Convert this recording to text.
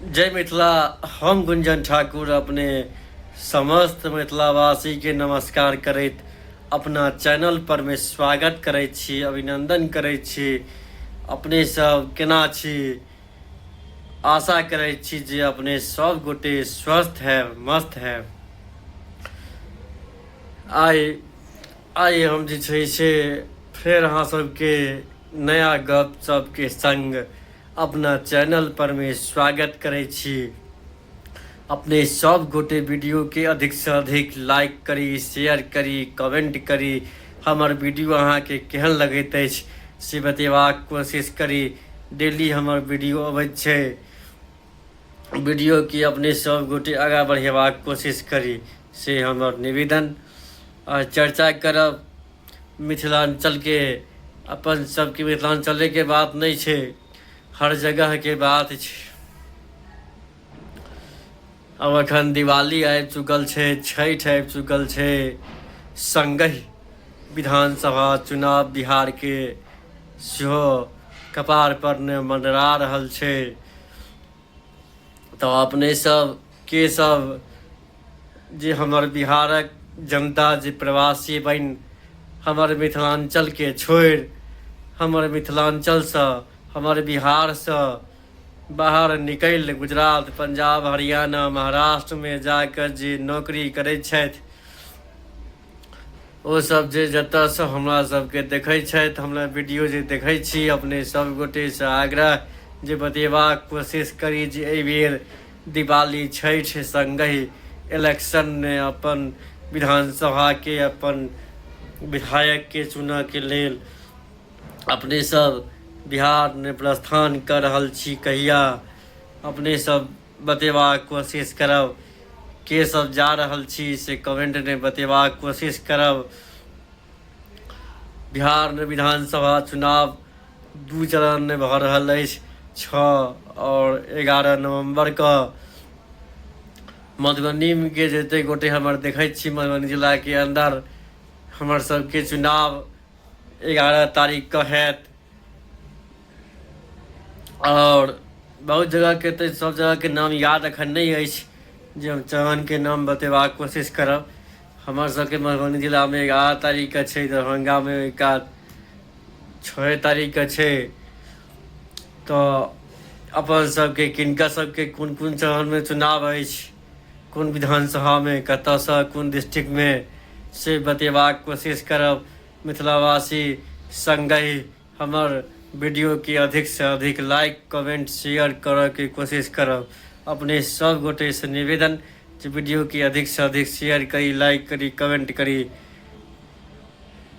जय मिथिला हम गुंजन ठाकुर अपने समस्त मिथिलावासी के नमस्कार करैत अपना चैनल पर में स्वागत करे छी अभिनंदन करे छी अपने सब केना छी आशा करे छी जे अपने सब गोटे स्वस्थ है मस्त है आइ आइ हम जे छै से फेर अहाँ सबके नया गप सबके संग अपना चैनल पर में स्वागत करे छी अपने सब गोटे वीडियो के अधिक से अधिक लाइक करी शेयर करी कमेंट करी हमर वीडियो अहाँ के केहन लगैत अछि से बतेबाक कोशिश करी डेली हमर वीडियो अबैत छै वीडियो के अपने सब गोटे आगा बढ़ेबाक कोशिश करी से हमर निवेदन आ चर्चा करब मिथिलाञ्चलके अपन सबके मिथिलाञ्चलेके बात नहि छै हर जगहके बात छै अब अखन दिवाली आबि चुकल छै छठि आबि चुकल छै सङ्गहि विधानसभा चुनाव बिहारके सेहो कपारपर ने मँडरा रहल छै तऽ अपने सब के सब जे हमर बिहारक जनता जे प्रवासी बनि हमर मिथिलाञ्चलके छोड़ि हमर मिथिलाञ्चलसँ हमर बिहारसँ बाहर निकलि गुजरात पंजाब हरियाणा महाराष्ट्रमे जा कऽ जे नौकरी करैत छथि ओ सब जे जतय से हमरा सबके देखे छथि हमरा वीडियो जे देखे छी अपने सब गोटे से आग्रह जे बतेबाक कोशिश करी जे एहि बेर दिवाली छठि संगे इलेक्शन ने अपन विधानसभा के अपन विधायक के चुनऽ के लेल अपने सब बिहार ने प्रस्थान कर रहल छी कहिया अपने सब बतेबाक कोशिश करब के सब जा रहल छी से कमेंट ने बतेबाक कोशिश करब बिहार में विधानसभा चुनाव दू चरण में भ रहल अछि छः और एगारह नवंबर क मधुबनी के जते गोटे हमर देखे छी मधुबनी जिला के अंदर हमर सबके चुनाव एगारह तारीख क हैत आओर बहुत जगहके तऽ सब जगहके नाम याद अखन नहि अछि जे हम चौहानके नाम बतेबाक कोशिश करब हमर सबके मधुबनी जिलामे एगारह तारीखके छै दरभंगामे ओहिका छओ तारीखके छै तऽ अपन सबके किनका सबके कोन कोन चरणमे चुनाव अछि कोन विधानसभामे कतयसँ कोन डिस्ट्रिक्टमे से बतेबाक कोशिश करब मिथिलावासी सङ्गहि हमर वीडियो के अधिक से अधिक लाइक कमेंट शेयर करऽ के कोशिश करब अपने सब गोटे से निवेदन जे वीडियो के अधिक से अधिक शेयर करी लाइक करी कमेंट करी